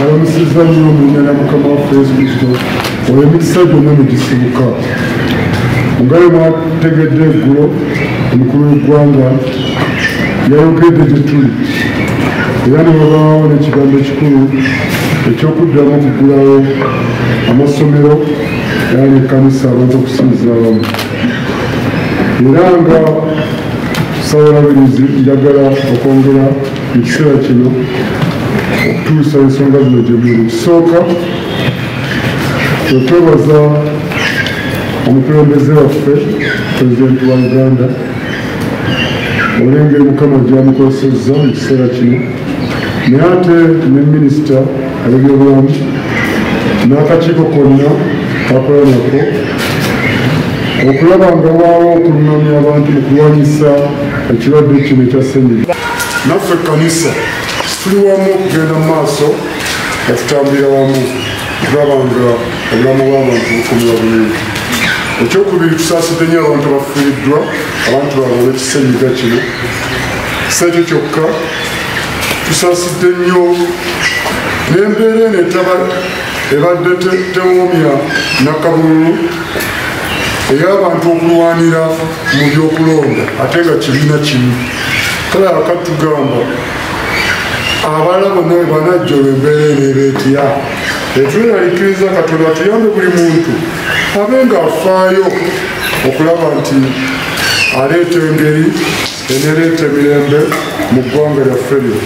alamusiza nnyo omunya na mukama waffe yesu kristo olwo emikisa gyonna ne gisibuka nga ye mwategedde eggulo omukulu w'eggwanga yayogedde gye tuli era ne babaawo n'ekigambo ekikulu eky'okuddamu okuggulawo amasomero era n'ekkanisa abantu okusinzira abamu era nga sawulabirizi njagala okwongera mu kiseera kino okutuusa ensonga zino gye muli ekisooka okwebaza omukulembeze waffe pulezidenti wa uganda olengeri mukama gyamukozesezza mu kiseera kino naye ate ne minisita abebyobulamu n'akakiiko konna kakola nako okulaba nga waawo okunamya abantu mu kulwanyisa ekirwadde kino ekya senyiga naffe ekkanisa tuli wamu okugenda mu maaso nga tutambulira wamu okulaba nga obulamu bw'abantu bukumira bulungi ekyokubiri tusaasidde nyo abantu abafiiriddwa abantu baabwe olwekisenyiga kino sekyo kyokka tusaasidde nnyo n'embeera eno etaba ebadde tewomya nakabululu ey'abantu okulwanira mu byokulonda ate nga kibiina kimu kale akatugamba abaana bonna webanajja olwo embeera ebeera etya etweralikiriza katonda tuyambe buli muntu abe nga afaayo okulaba nti aleeta engeri enereeta emirembe mu ggwanga lyaffe lyo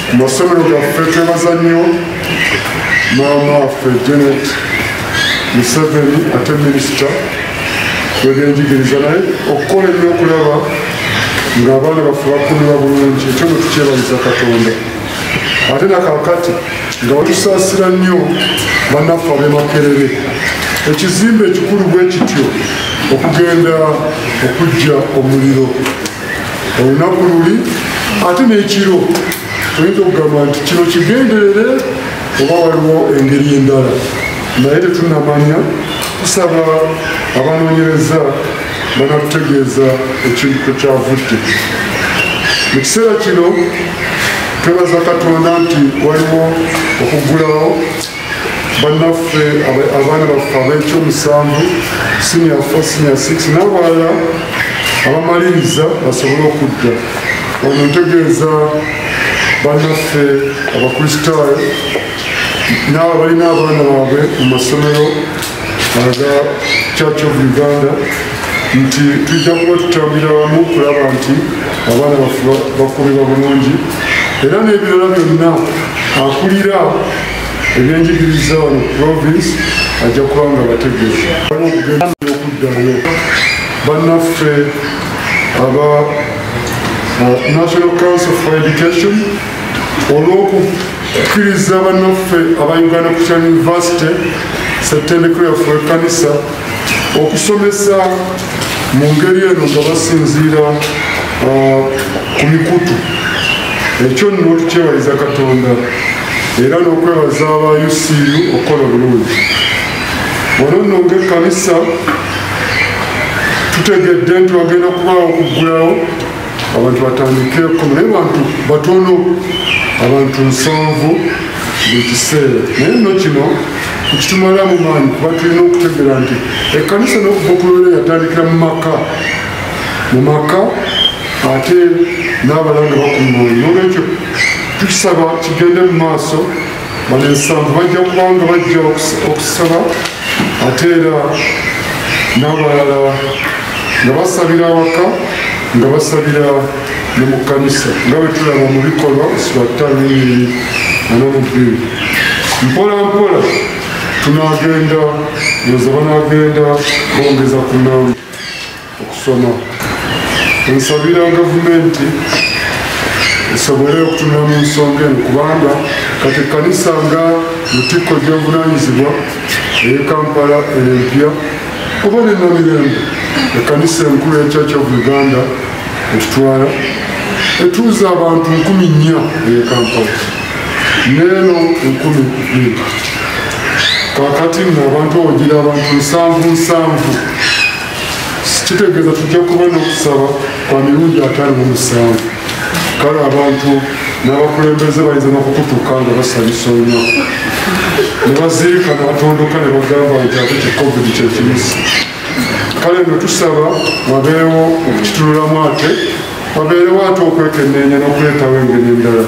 ku masomero gaffe twebaza nnyo maama waffe janet museveni ate minisita lwegenjigiriza naye okukola ennyo okulaba ng'abaana baffe bakuliwa bulungi ekyo ne tukyebaliza katonda ate nakakati nga batusaasira nnyo banaffe abemakerere ekizimbe ekikulu bwe kityo okugenda okujja omuliro olunaku luli ate n'ekiro oyinza okugamba nti kino kigenderere oba waliwo engeri endala naye tetunamanya tusaba abanoonyereza banatutegeeza ekintu kwekyavudde mu kiseera kino twebaza katonda nti waliwo okuggulawo bannaffe abaana baffe ab'ekyomusanvu sinior fo sinior six n'abalala abamaliriza basobole okudda ono ntegeeza bannaffe abakristaayo naabo balina abaana baabwe mu masomero aga church of uganda nti tujja kuba tutambulira wamu kulaba nti abaana baffe bakuumibwa bulungi era n'ebirala byonna akulira ebyenjigiriza wano province ajja kuba nga bategeeza okuddayo bannaffe aba uh, national council for education olw'okukkiriza bannaffe aba uganda christian university setendeko yaffe ekanisa okusomesa mu ngeri eno nga basinziira uh, ku mikutu ekyo nno tukyewaliza katonda era n'okwebaza aba ucu okukola bulungi ono nno ngaekkanisa tutegedde nti wagenda kubaawo okuggulawo abantu batandike koma naye bantu batono abantu nsanvu buli kiseera naye nno kino nkitumala mu maanyi kuba tulina okutegera nti ekkanisa n'okuva okulwera yatandikira mu maka mu maka ate n'abalanga bakumaanyi nolwekyo tukisaba kigende mu maaso bano ensanvu bajja kubanga bajja okusaba ate era n'abalala nga basabira awaka nga basabira ne mu kkanisa nga bwe tulaba mu bikolwa sibattaanyinyini anamubbiru mpola mpola tunagenda yoza banagenda bongeza ku namba okusoma ensabira gavumenti esobole okutunula mu nsonga eno kubanga kati ekkanisa nga lutikko gy'obuvunaanyizibwa eye kampala empya oba nenomirembe ekkanisa enkulu ya church of uganda etutwala etuuza abantu nkumi nnya eye kampala neeno enkumi bbiri kakati nno abantu ogira abantu nsanvu nsanvu kitegeeza tujja kuba n'okusaba kwa mirundi ataano mu musanvu kale abantu n'abakulembeze bayinza n'okukutuka nga basanyusa olunaku ne baziika ne batondoka ne bagamba nti ate ki covid kyekimusi kale no tusaba wabeewo okukitunulamu ate wabeerewo ate okwekenneenya n'okuleetawo engeri endala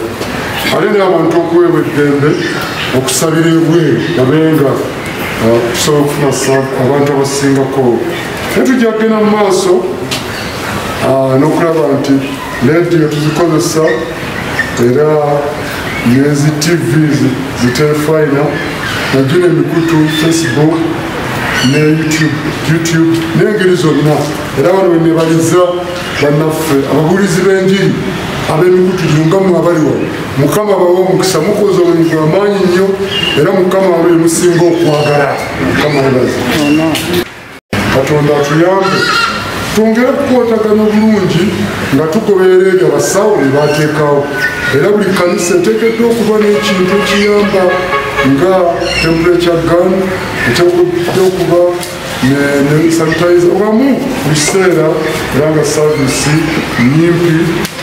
ate n'abantu okuweebwa eddembe okusabira ebweru babenga uh, okusobola okufuna sabu abantu abasingako naye tujja kugenda mu maaso uh, n'okulaba nti lediyo tuzikozesa era nezi tv zitelefayina najjo nemikutu facebook ne youtube n'engeri zonna era bano wenebaliza bannaffe ababulizi b'enjiri ab'emikutu gyunga mu abali wano mukama bawa omukisa mukoza omulimu gwa maanyi nnyo era mukama abe musinga okwagala mukama webaza katonda atuyambe twongere kukwatagana obulungi nga tugoberera ebyo abasawo bye bateekawo era buli kanisa eteekeddwa okuba n'ekintu ekiyamba nga temperature gun eteekeddwa okuba nesanitayiza obamu mu kiseera era nga saavisi nyimpi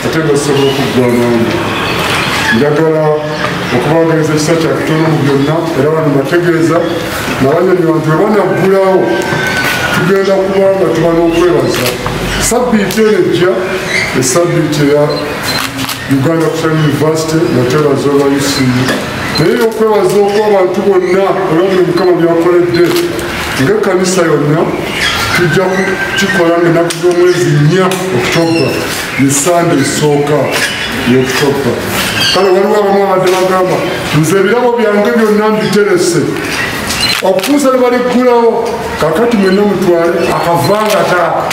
ate nga zisobola okuggwanamu njagala okubagaliza ekisa kyakutono mu byonna era bano bategeeza nabanyonyi bantu webanaggulawo tugenda kuba nga tuba n'okwebaza sabbiiti eno ejja esabbiiti eya uganda kusa university nga twebaza obayisiyo naye yokwebaza okuba abantu bonna olwabuli mukama byakoledde nga ekkanisa yonna tujja kukikola nga enaku z'omwezi nnya okutobba ye sande esooka yokutobba kale waliwo abamu abadde bagamba nze ebirabo byange byonna mbiterese okutuusa ne baliggulawo kakati mwenna mutwale akavanga taaka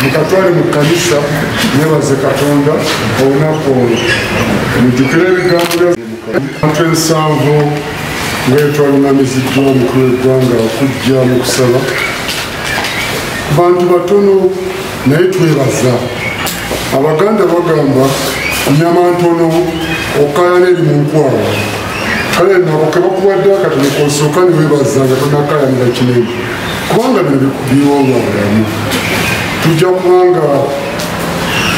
mukatwale mu kkanisa nebaze katonda olunaku olwo mujukire ebigambo abantu ensanvu ngaetwalunamiziddwa omukulu w'eggwanga okujja mu kusaba bantu batono naye twebaza abaganda bagamba nyama ntono okayana eri mu nkwawa kale nabo kebakuwadde akatono kosooka newebaza nga tonakayanira kinene kubanga bino biwowa bulamu tujja kubanga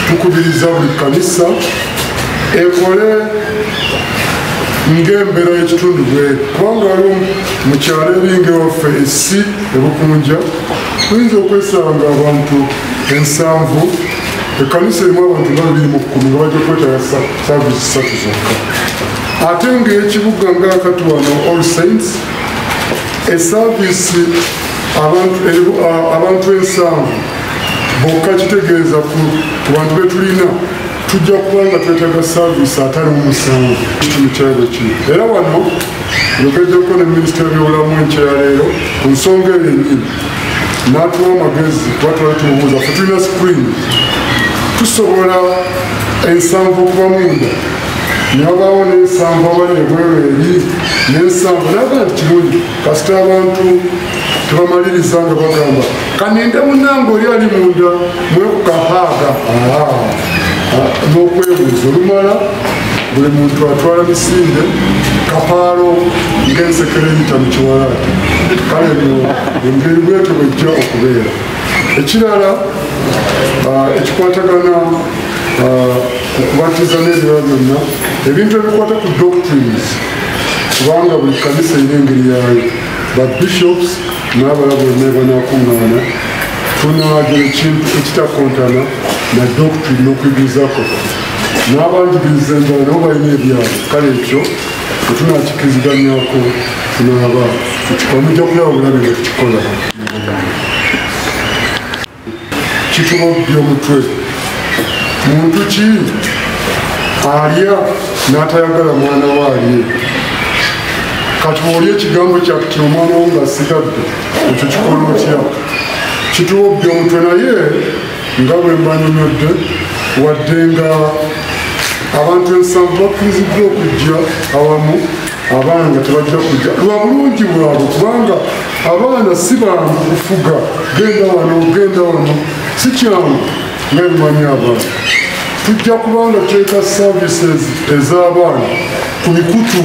tukubiriza buli kanisa ekole ngaembeera yekitundu bweri kubanga waliwo mukyalo eringa ewaffe esi ebukunja oyinza okwesanga abantu ensanvu ekanisa erimu abantu nga bibiri mu kkumi nga bajja kwetala saavisi satu zokka ate ngaekibuga ngaakati wano all saints esaavisi abantu ensanvu bokka kitegeeza ku bantu betulina tujja kuba nga twetaga saavisi atali omusango mu kyalo kino era wano yogejjako ne minisita byobulamu enkyaleero ku nsonga eyo enyini n'atuwa amagezi kuba twali tumubuuza fe tulina screen tusobola ensanvu okuba munda newabaawo n'ensanvu abali ebweru eri n'ensanvu naga nti kirungi kasita abantu tebamaliriza nga bagamba kaninde munange oli ali munda mwekukahaaga n'okwebuuza olumala buli muntu atwala misinde kapaalo ng'ensekere eyita mu kiwalaati kale no engeri bwetyo bwejja okubeera ekirala ah, ekikwatagana ah, okubatiza n'ebirala byonna ebintu ebikwata ku doctrines kubanga buli kanisa erina engeri yaayo ba bishops n'abala bonna banakuŋŋaana tunaagira ekintu ekitakontana na doctrine n'okuyigiriza kwaffe n'abanjigiriza enjala nabo balina ebyalo kale ekyo tetunakikiriziganyako tunaaba tukikwa mujja kulaba bulabi nga tukikola kituba okubbya omutwe muntu ki alya n'atayagala mwana we alye kati oli ekigambo kyakti omwana wo ngasigadde ekyo kikola otya kituwa obbya omutwe naye nga bwe mbanyonyodde wadde nga abantu ensanvu bakkiriziddwa okujja awamu abaana nga tebajja kujja lwa bulungi bwabwe kubanga abaana si bangu kufuga genda wano genda wano si kyangu naye mumanye abaana tujja kubanga teeka services ez'abaana ku mikutu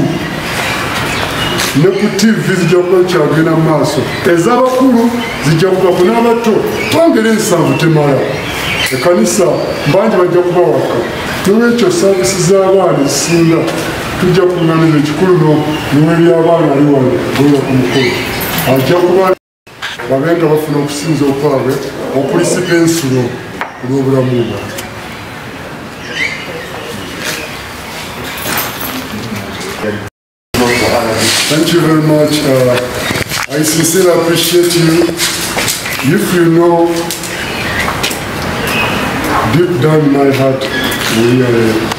ne ku tivi zijja kuba kyagenda mu maaso ez'abakulu zijja kuba ku n'abato twangera ensanvu temala ekanisa mbangi bajja kubawaka nolwekyo servisi z'abaana ezisinga tujja kuŋŋaaniza ekikulu no nnyuma by'abaana ali wano goya ku mukulu ajja kuba babe nga bafuna okusinza okwabwe okulisika ensulo olw'obulamu bwa Thank you very much. Uh, I sincerely appreciate you. If you know deep down my heart, we are.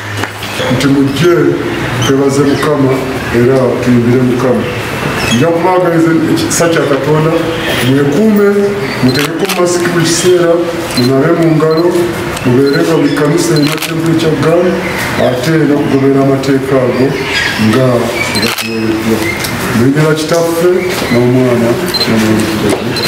nti mujje twebaze mukama era tuyimbire mukama nja kubaagaliza ekisa kya katonda mwekuume mutegeko masiki buli kiseera munabe mu ngalo mubeere nga buli kanisa erina tempu ekya gal ate nokugoberera amateeka ago nga gatuwereddwa muyingira kitaffe n'omwana namwonaa